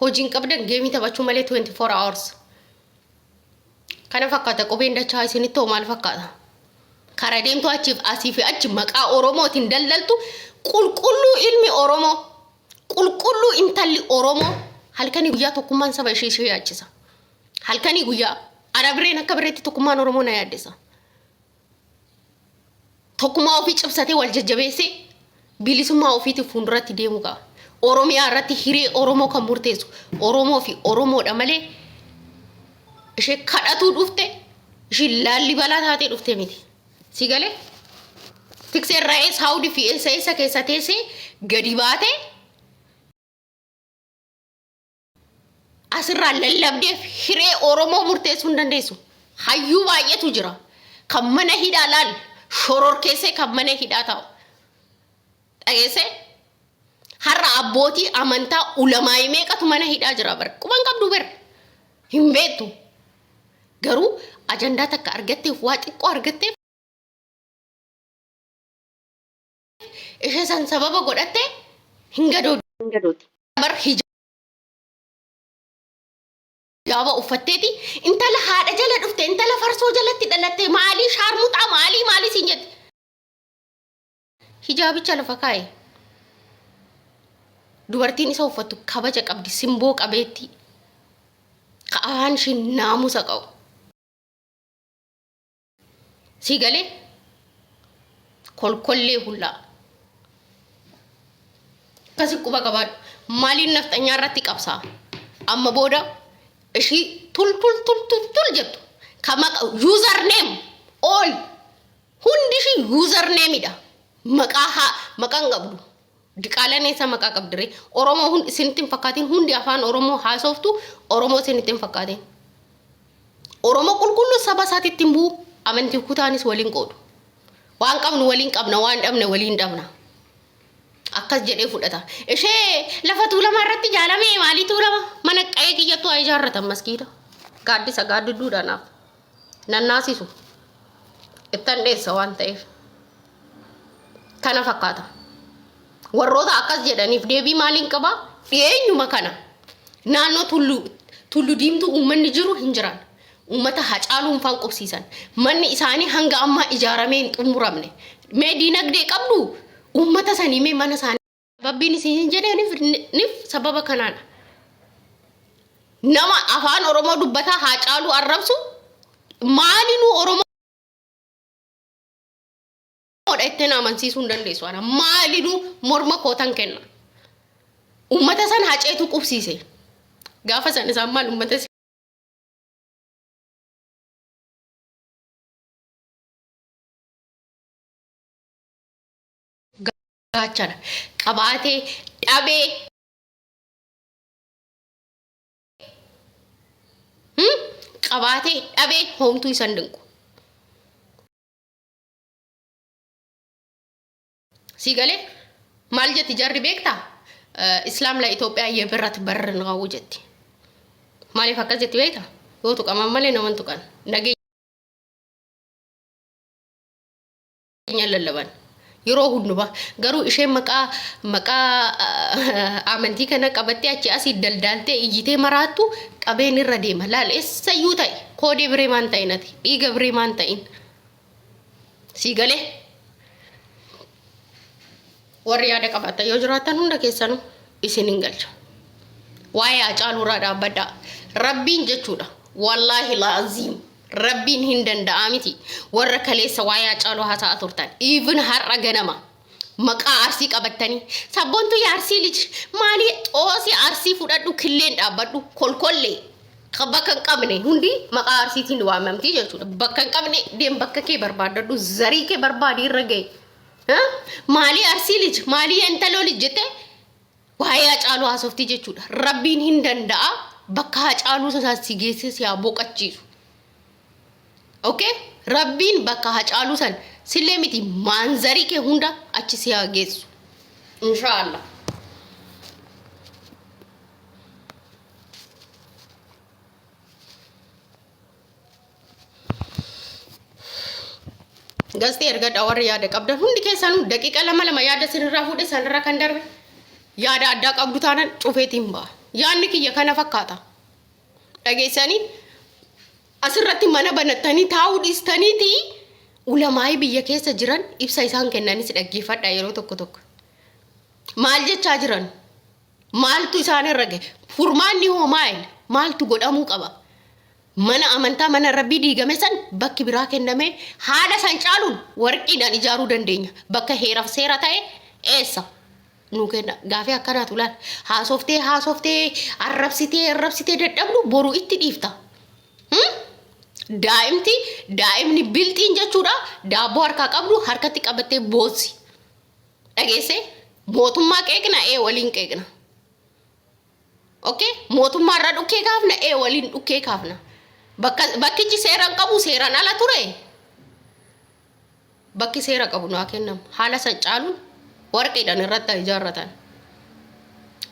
Hojii hin qabdan geemii taphachuu malee 24 hours. Kana fakkaata qubeen dachaa isinitti hoo maal fakkaata? Kara deemtu achiif asii fi achi maqaa Oromootiin daldaltu qulqulluu ilmi Oromoo qulqulluu intalli Oromoo halkanii guyyaa tokkummaan saba ishee ishee yaachisa. Halkanii guyyaa ana bireen akka bireetti tokkummaan Oromoo na yaaddessa. tokkummaa ofii cimsatee wal jajjabeessee bilisummaa ofiitiif fuulduratti deemuu qaba. Oromiyaa irratti hiree Oromoo kan murteessu Oromoo fi Oromoodha malee ishee kadhatuu dhufte ishee laallibalaa taatee dhufte miti. Si galee? Tiksee irraa Saawudii fi eessa eessa keessa teessee gadi baatee asirraa lallabdeef hiree Oromoo murteessuu hin dandeessu. Hayyuu baay'eetu jira. Kan mana hidhaa laal shororkeessee kan mana hidhaa taa'u. Dhageessee har'a abbootii amantaa ulamaa'ii meeqatu mana hidhaa jira bara. Quban qabdu bara. Hin beektu. Garuu ajandaa takka argatteef waa xiqqoo argatteef Ishee san sababa godhatte hin gadoodde. Hin gadoodde. Bar hijaaba uffatteeti intala haadha jala dhufte intala farsoo jalatti dhalatte maalii shaarmuxaa maalii maalii siin jette. Hijaabicha lafa kaa'e. Dubartiin isa uffattu kabaja qabdi simboo qabeetti. Ka'aan ishiin naamusa qabu. Sii galee kolkollee hullaa. Akkasi quba qabaadhu. Maaliin nafxanyaa irratti qabsaa? Amma booda ishii tul tul tul tul tul jettu. Ka maqa user name all hundi ishii user nameidha. Maqaa haa maqaan qabdu. Diqaalaan eessaa maqaa qabdiree? Oromoo hundi isinitti hin fakkaatiin hundi afaan Oromoo haasoftu Oromoo isinitti hin fakkaatiin. Oromoo qulqulluu saba isaatti ittiin bu'u amantii kutaanis waliin qoodu. Waan qabnu waliin qabna waan dhabne waliin dhabna. Akkas jedhee fudhata. Ishee lafa tuulamaa irratti jaalamee maalii tuulama? Mana qa'ee kiyyattuu haa ijaarratan maskiida. Gaaddisa gaaddidduu dhanaaf. nan naasisu ittan dheessa waan ta'eef kana fakkaata warroota akkas jedhaniif deebii maaliin qaba dhiyeenyuma kana naannoo tullu tullu diimtuu uummanni jiru hin jiran uummata hacaaluun faan qubsiisan manni isaanii hanga ammaa ijaaramee hin xumuramne mee diinagdee qabdu uummata sanii mee mana isaanii Rabbiin isin hin jedheeniif nif sababa kanaadha. Nama afaan Oromoo dubbataa haa caaluu arrabsu maalinuu Oromoodha ittiin amansiisuu hin dandeessu. Ana maalinuu morma kootan kenna. Uummata san haceetu qubsiise. Gaafa san isaan maal uummata gaachana qabaatee dhabee hmm? qabaatee dhabee hoomtuu isan dinqu. Sii galee maal jetti jarri beektaa? Islaam la Itoophiyaa yeebirratti barri naqawu jetti. Maaliif akkas jetti beekta? Yoo tuqaman malee naman tuqan. Nageenya keenya lallaban yeroo hundumaa garuu isheen maqaa maqaa amantii kana qabattee achi asii daldaaltee iyyitee maraattu qabeen irra deema laal eessayyuu ta'e koodee biree maan ta'in ati dhiiga biree maan ta'in sii galee. Warri yaada qabaattan yoo jiraattan hunda keessanu isin hin galcha. Waa'ee Hacaaluu irraa dhaabbadhaa. Rabbiin jechuudha. Wallaahi laaziim. Rabbiin hin danda'aa miti. Warra kaleessa waa'ee Hacaaluu haasa'aa turtan. Even har'a ganama. Maqaa arsii qabattanii. Sabboontuu yaa arsii liji. Maalii xoosii arsii fudhadhu killeen dhaabbadhu. Kolkollee. Ka bakka hin qabne hundi maqaa arsiitiin waamamtii jechuudha. Bakka hin qabne deem bakka kee barbaaddadhu. Zarii kee barbaadi irra gahe. Maalii arsii lij maalii yentaloo lij jettee waa'ee hacaaluu haasoftii jechuudha. Rabbiin hin danda'a bakka hacaaluu sanaan si geessee si haa boqachiisu. Okay? Rabbiin bakka hacaaluu san sillee miti maanzarii kee hunda achi si haa geessu. Inshaallah. Gaazexii ergadhaa warri yaada qabdan hundi keessanuu daqiiqa lama lama yaada sirraa fuudhe sanirra kan darbe yaada addaa qabdu taanan cufeetiin ba'a. Yaadni kiyya kana fakkaata. Dhageessanii asirratti mana banattanii taa'uu dhiistaniiti ulamaa'ii biyya keessa jiran ibsa isaan kennanis dhaggeeffadha yeroo tokko tokko. Maal jechaa jiran? Maaltu isaan irra gahe? Furmaanni hoo maal? Maaltu godhamuu qaba? Mana amantaa mana rabbii diigame san bakki biraa kennamee haala san caaluun warqiidhaan ijaaruu dandeenya. Bakka heeraf seera ta'e eessa? Nuu kenna. Gaafii akkanaatu laal. Haasoftee haasoftee arrabsitee arrabsitee dadhabdu boru itti dhiifta. Hmm? Daa'imti daa'imni bilxiin jechuudha daabboo harkaa qabdu harkatti qabattee boossi. dhageessee mootummaa qeeqna ee waliin qeeqna okay mootummaa irra dhukkee kaafna ee waliin dhukkee kaafna bakka bakkichi seeraan qabu seeraan ala ture bakki seera qabu naa kennamu haala san caaluun warqiidhaan irratti haa ijaarratan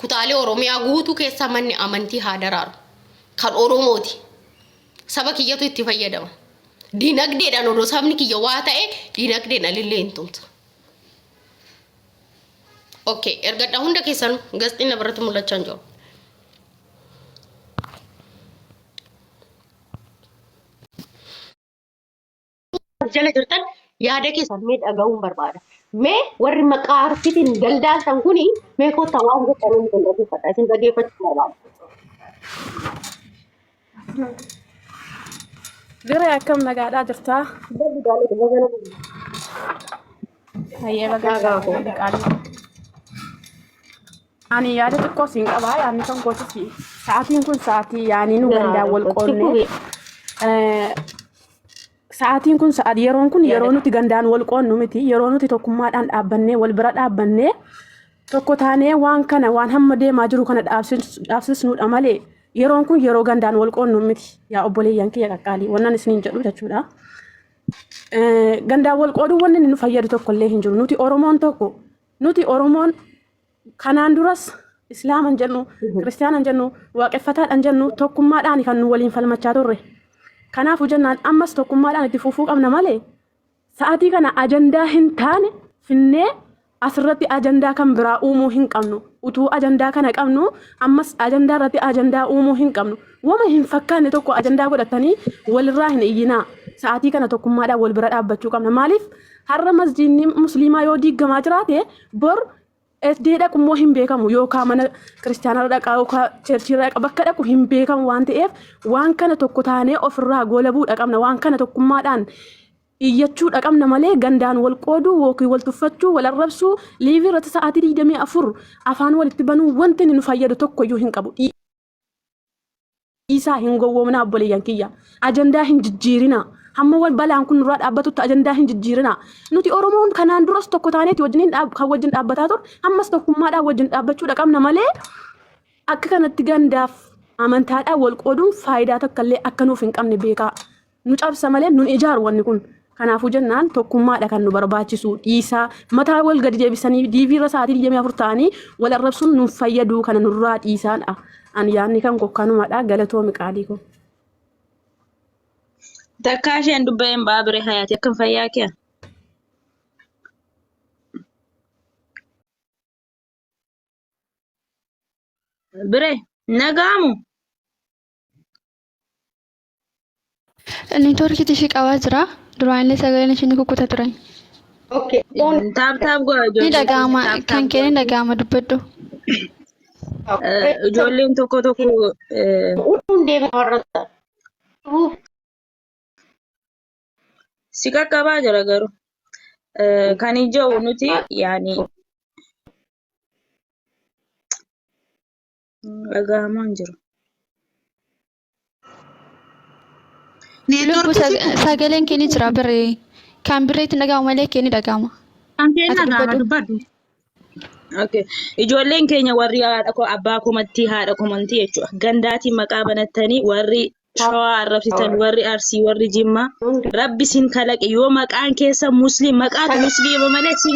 kutaalee oromiyaa guutuu keessaa manni amantii haa daraaru kan oromooti saba kiyyatu itti fayyadama dinagdeedhaan odoo sabni kiyya waa ta'e dinagdeedhaan illee hin tumsa ok ergadha hunda keessanu gasxiin na biratti mul'achaa hin jiru jala jirtan yaada keessan mee dhaga'uun barbaada. Mee warri maqaa arsiitiin daldaaltan kuni mee kottaa waan gochanii nu danda'uufadha. Isin dhageeffachuu barbaada. Diree akkam nagaadhaa jirtaa? Hayyee bagaa gaafadha qaalii. Ani yaada xiqqoo siin qabaa yaadni kan kootis sa'aatiin kun sa'aatii yaanii nu gandaan wal qoonnee Sa'aatiin kun sa'aat yeroon kun yeroo nuti gandaan wal qoonnu miti yeroo nuti tokkummaadhaan dhaabbannee wal bira dhaabbannee tokko taanee waan kana waan hamma deemaa jiru kana dhaabsisnuudha malee yeroon kun yeroo gandaan wal qoonnu miti yaa obboleeyyan kiyya qaqqaalii wannan isiniin jedhu jechuudha. Gandaan wal qooduu wanni nu fayyadu tokkollee hin jiru nuti Oromoon tokko nuti Oromoon Kanaan duras Islaama hin jennu, Kiristiyaana hin jennu, Waaqeffataadha hin jennu tokkummaadhaan kan nu waliin falmachaa turre. Kanaafuu jennaan ammas tokkummaadhaan itti fufuu qabna malee sa'aatii kana ajandaa hin taane finnee asirratti ajandaa kan biraa uumuu hin qabnu. Utuu ajandaa kana qabnu ammas ajandaa irratti ajandaa uumuu hin qabnu. Wama hin fakkaanne tokko ajandaa godhatanii walirraa hin iyyinaa. Sa'aatii kana tokkummaadhaan wal bira dhaabbachuu qabna. Maaliif har'a masjiidni musliimaa yoo diiggamaa jiraate bor Eddee dhaqu immoo hin beekamu yookaan mana kiristaanaa dhaqaa yookaan cheerchii dhaqa bakka dhaqu hin beekamu waan ta'eef waan kana tokko taanee ofirraa goolabuu dhaqabna waan kana tokkummaadhaan iyyachuu dhaqabna malee gandaan wal qooduu yookiin wal tuffachuu wal arrabsuu liivii irratti sa'aatii 24 afaan walitti banuu wanti inni nu fayyadu tokko iyyuu hin qabu. Isaa hin gowwoomnaa obboleeyyan kiyya. Ajandaa hin jijjiirinaa. Hamma wan balaan kun nurraa dhaabbatutti ajandaa hin jijjiirinaa. Nuti Oromoon kanaan duras tokko taaneeti wajjin hin dhaab- kan wajjin dhaabbataa ture. Ammas tokkummaadhaan wajjin dhaabbachuudha qabna malee akka kanatti gandaaf amantaadhaan wal qooduun faayidaa takka illee akka nuuf hin qabne beekaa. nu cabsa malee nun ijaaru wanni kun. Kanaafuu jennaan tokkummaadha kan nu barbaachisu dhiisaa mataa wal gadi deebisanii diivii irra sa'aatii 24 ta'anii wal arrabsuun nun fayyaduu kana nurraa dhiisaadha. Ani yaadni kan koo kanumadha galatoomi qaalii koo. Takkaa isheen dubbee hin ba'aa bire hayaati akkam fayyaa kee? Bire nagaamu Network tishii qabaa jira. Duraan illee sagaleen ishii ni kukkuta turan. Okay. Don't. Taap taap godha Ni ijoollee. dhaga'ama. Taap taap Kan kee ni godha. dhaga'ama dubbadhu. Eh, Ijoolleen tokko tokko eh, Utuun deeman warra ta'a. Uuf. si qaqqabaa jira garuu. Eh, Kan ijoo nuti yaani dhaga'amaa hin jiru. Lubbu sagaleen kee ni jira birree. Kan birree itti dhaga'amu malee kee ni dhaga'ama. Kan kee Ati dhagaama dubbadhu. dubbadhu. Okay. Ijoolleen keenya warri haadha koo abbaa komattii haadha komantii jechuudha. Gandaatiin maqaa banattanii warri shawaa arrabsitan warri arsii warri jimmaa rabbi sin kalaqe yoo maqaan keessa musliim maqaatu musliima malee sin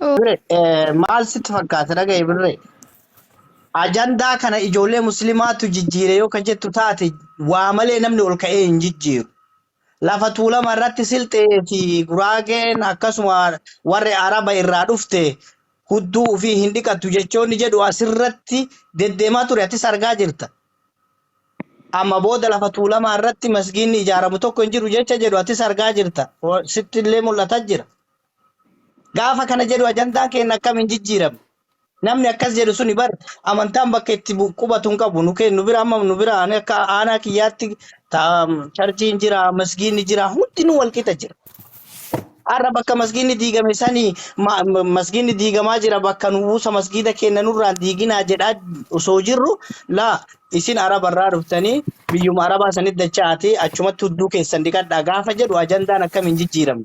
Birre, eh, maal sitti fakkaata dhaga'i birre? Ajandaa kana ijoollee muslimaatu jijjiire yoo ka jettu taate waa malee namni ol ka'ee hin jijjiiru. Lafa Tuulama irratti Silxee fi Guraageen akkasuma warri Araba irraa dhufte hudduu ufii hin dhiqattu jechoonni jedhu asirratti deddeemaa ture atis argaa jirta. Amma booda lafa Tuulamaa irratti masgiinni ijaaramu tokko hin jiru jecha jedhu atis argaa jirta. Sitti illee mul'ata jira. Gaafa kana jedhu ajandaan keenya akkam hin jijjiiramne. Namni akkas jedhu suni bar amantaan bakka itti bu- qubatu hin qabu. Nu kee- nu bira amma nu bira ani akka aanaa kiyyaatti ta- charchiin jira, masgiinni jira, hundinuu wal qixa jira. Har'a bakka masgiinni diigame sanii ma- ma- masgiinni diigamaa jira bakka nu buusa masgiida keenya nurraan diiginaa jedhaa osoo jirru laa isin arabarraa dhuftanii biyyuma arabaa sanitti dacha'aatii achumatti hudduu keessan dhiqadhaa gaafa jedhu ajandaan akkam hin jijjiiramne.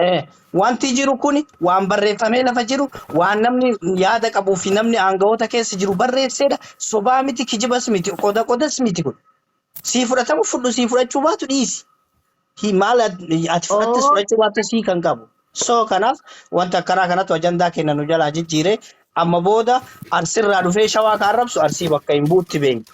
Eh, Wanti jiru kun waan barreeffamee lafa jiru, waan namni yaada qabuu fi namni aangawoota keessa jiru barreessedha. Sobaa miti, kijibas miti, qoda qodas miti kun. Sii fudhatamu fudhu, sii fudhachuu baatu dhiisi. Hi- Maal at- ati fudhattes Oh, fudhachuu baattes hiika hin qabu. So kanaaf wanta akkanaa kanatu ajandaa keenya nu jalaa jijjiire. Amma booda Arsirraa dhufee Shawaa ka arrabsu Arsii bakka hin bu'utti beekna.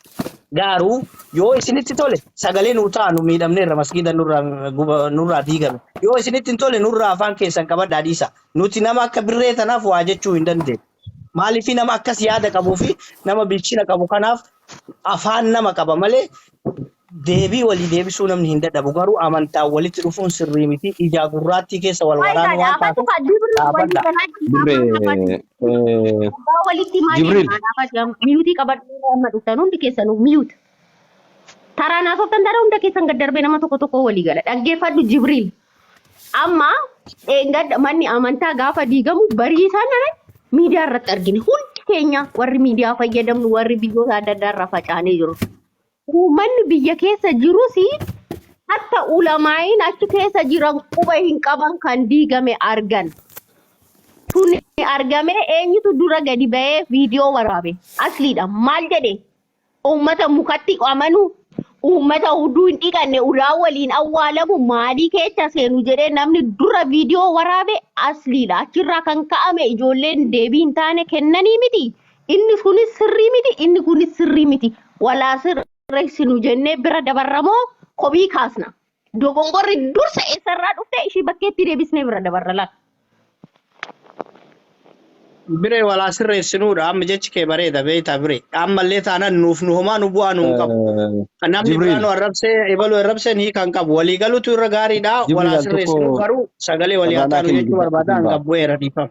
Gaaru yoo isinitti tole sagalee nuu ta'a nu miidhamneerra masgiida nurraa diigame. Yoo isinitti hin tole nurraa afaan keessan qabadhaa dhiisaa. Nuti nama akka Birree tanaaf waa jechuu hin dandeenyu. Maaliif nama akkas yaada qabu fi nama bilchina qabu kanaaf afaan nama qaba malee Deebii walii deebisuu namni hin dadhabu garuu amantaan walitti dhufuun sirrii miti. Ijaa gurraattii keessa wal waraanuu waan taateef dhaabadhaa. Jibril Jibril. Miyuutii qabadhu yeroo amma dhuftan hundi keessanuu miyuut. Taraan haasoftan taana hunda keessan gad darbee nama tokko tokko walii gala. Dhaggeeffadhu Jibril. Amma dheengadda manni amantaa gaafa diigamu barii isaa nana miidiyaa irratti argine. Hundi keenya warri miidiyaa fayyadamnu warri biyyoota adda addaa irraa facaanee jiru. Uummanni biyya keessa jirus hatta ulamaa'iin achi keessa jiran quba hin qaban kan diigame argan. Tun argamee eenyutu dura gadi ba'ee viidiyoo waraabe? Asliidha. Maal jedhe? Uummata mukatti amanu, uummata uduu hin dhiqanne ulaa waliin awwaalamu maalii keessa seenu jedhee namni dura viidiyoo waraabe asliidha. Achirraa kan ka'ame ijoolleen deebii hin taane kennanii miti. inni kunis sirrii miti inni kunis sirrii miti walaa sirreessinu jennee bira dabarramoo komii kaasna dogongorri dursa eessarraa dhufte ishii bakkeetti deebisnee bira dabarra laata. Biree walaa sirreessinuudha amma jechi kee bareeda beektaa biree ammallee taanaan nuuf nu homaa nu bu'aa nu hin qabu. Eh, Namni Jibriil, duraanuu arrabsee ebaluu arrabsee ni kan qabu walii galutu irra gaariidha Jibriil walaa al sirreessinuu tokko garuu sagalee walii haa carraa naa taanu kenni jechuu barbaada an dubbaaf. qabbu eera dhiifama.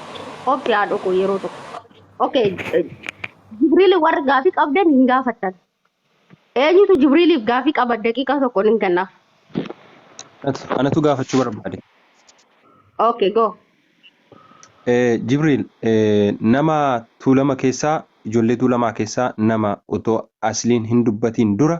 Obsi haa dhokoo yeroo tokko. Okay. Jibriili warri gaafii qabdan hin gaafattan. Eenyutu Jibriiliif gaafii qaba daqiiqaa tokkoon hin kennaaf. Anatu- Anatu gaafachuu barbaade. Okay go. Eh, Jibriil, eh, nama tuulama keessaa, ijoollee tuulamaa keessaa nama otoo asliin hin dubbatiin dura